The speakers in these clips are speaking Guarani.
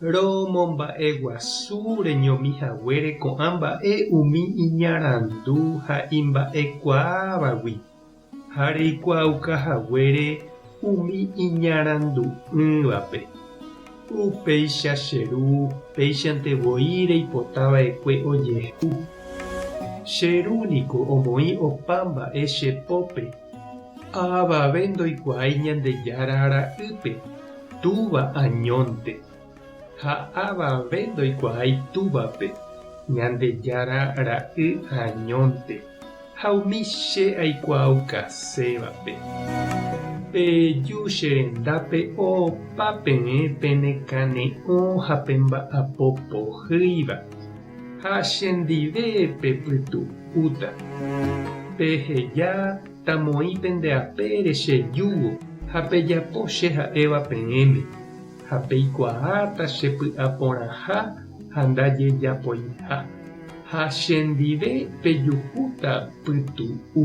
Romomba'eguasu reñomi haguére ko'ã mba'e umi iñarandu ha imba'ekuaávagui, ha reikuaauka haguére umi iñarandu'ỹvape. Upéicha che Ru péichante voi reipota vaekue ojehu. Che Ru niko omoĩ opa mba'e che pópe. Ha avave ndoikuaái Ñandejára ra'ýpe, túva añónte. Ha avave ndoikuaái túvape, Ñandejára ra'y añónte. Ha umi che aikuaaukasévape. Peju che rendápe opa peẽ penekane'õ ha pemba'apo pohýiva. Ha chendive pepytu'úta, peheja tamoĩ pende apére che júgo ha pejapo che ha'éva peẽme, ha peikuaáta che py'aporãha ha ndajejapoiha, ha chendive pejuhúta pytu'u.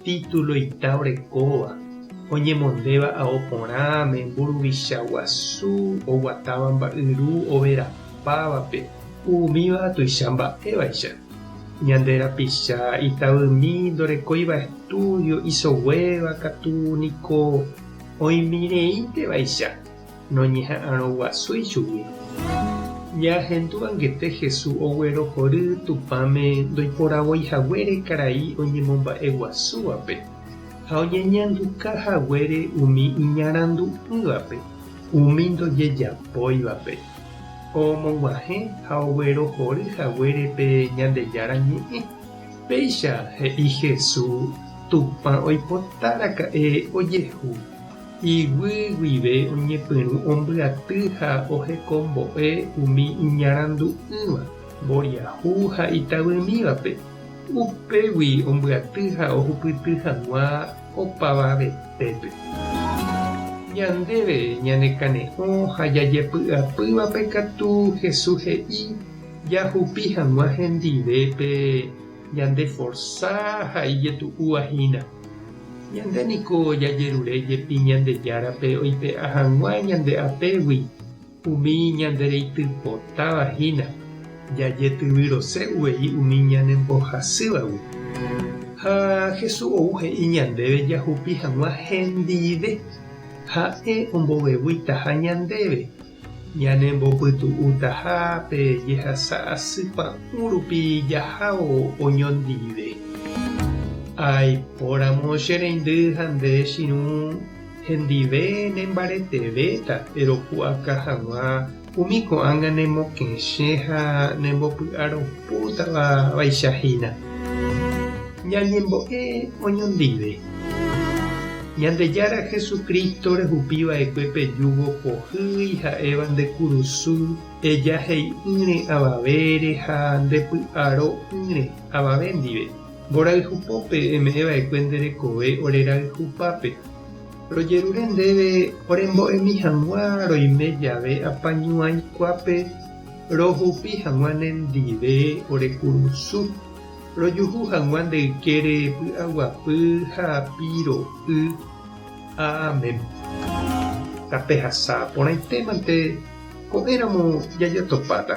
Título ita orekóva, oñemondéva ao porãme, mburuvicha guasu, oguatáva mba'yru overapávape. Umíva tuicha mba'évaicha. Ñande rapicha itavymi ndorekóiva estúdio isoguéva katu niko oĩmireíntevaicha. noñeha'arõguasúi chugui. Ñaahendu angete Jesús oguerohory Tupãme ndoiporavoi haguére karai oñemomba'eguasúvape ha oñeñanduka haguére umi iñarandu'ỹvape umi ndojejapóivape. Omog̃uahẽ ha oguerohory haguére pe Ñandejára Ñe'ẽ. Péicha he'i Jesús Tupã oipotaraka'e ojehu. Iguy guive oñepyrũ ombyaty ha ohekombo'e umi iñarandu'ỹva, mboriahu ha itavymívape, upégui ombyaty ha ohupyty hag̃ua opavavetépe. Ñandéve ñanekane'õ ha jajepy'apývape katu Jesús he'i jahupi hag̃ua hendive pe ñandeforsa ha ijetu'úva hína. Ñande niko jajerure jepi Ñandejárape oipe'a hag̃ua ñande apégui umi ñandereitypotáva hína, jajetyvyrose uvei umi ñanembohasývagui. Ha Jesús ou he'i ñandéve jahupi hag̃ua hendive, ha'e omboveguítaha ñandéve. Ñanembopytu'utaha pe jehasa asy pa'ũ rupi jahávo oñondive. Aipóramo che reindy ha nde chirũ hendive nembaretevéta, péro pu'aka hag̃ua umi ko'ág̃a nemokẽche ha nembopy'aropútava vaicha hína. Ñañembo'e oñondive. Ñandejára Jesucristo rehupi va'ekue pejúvo pohýi ha'éva nde kurusu, eja he'i'ỹre avavére ha nde py'aro 'ỹre avave ndive. Mborayhu pópe eme'ẽ va'ekue nde rekove ore rayhu pápe. Rojerure ndéve orembo'emi hag̃ua roime jave apañuãi kuápe rohupi hag̃ua ne ndive ore kurusu. Rojuhu hag̃ua nde ykére py'aguapy ha piro y. Amén. Tape hasa porãite mante ko'ẽ ramo jaja topáta.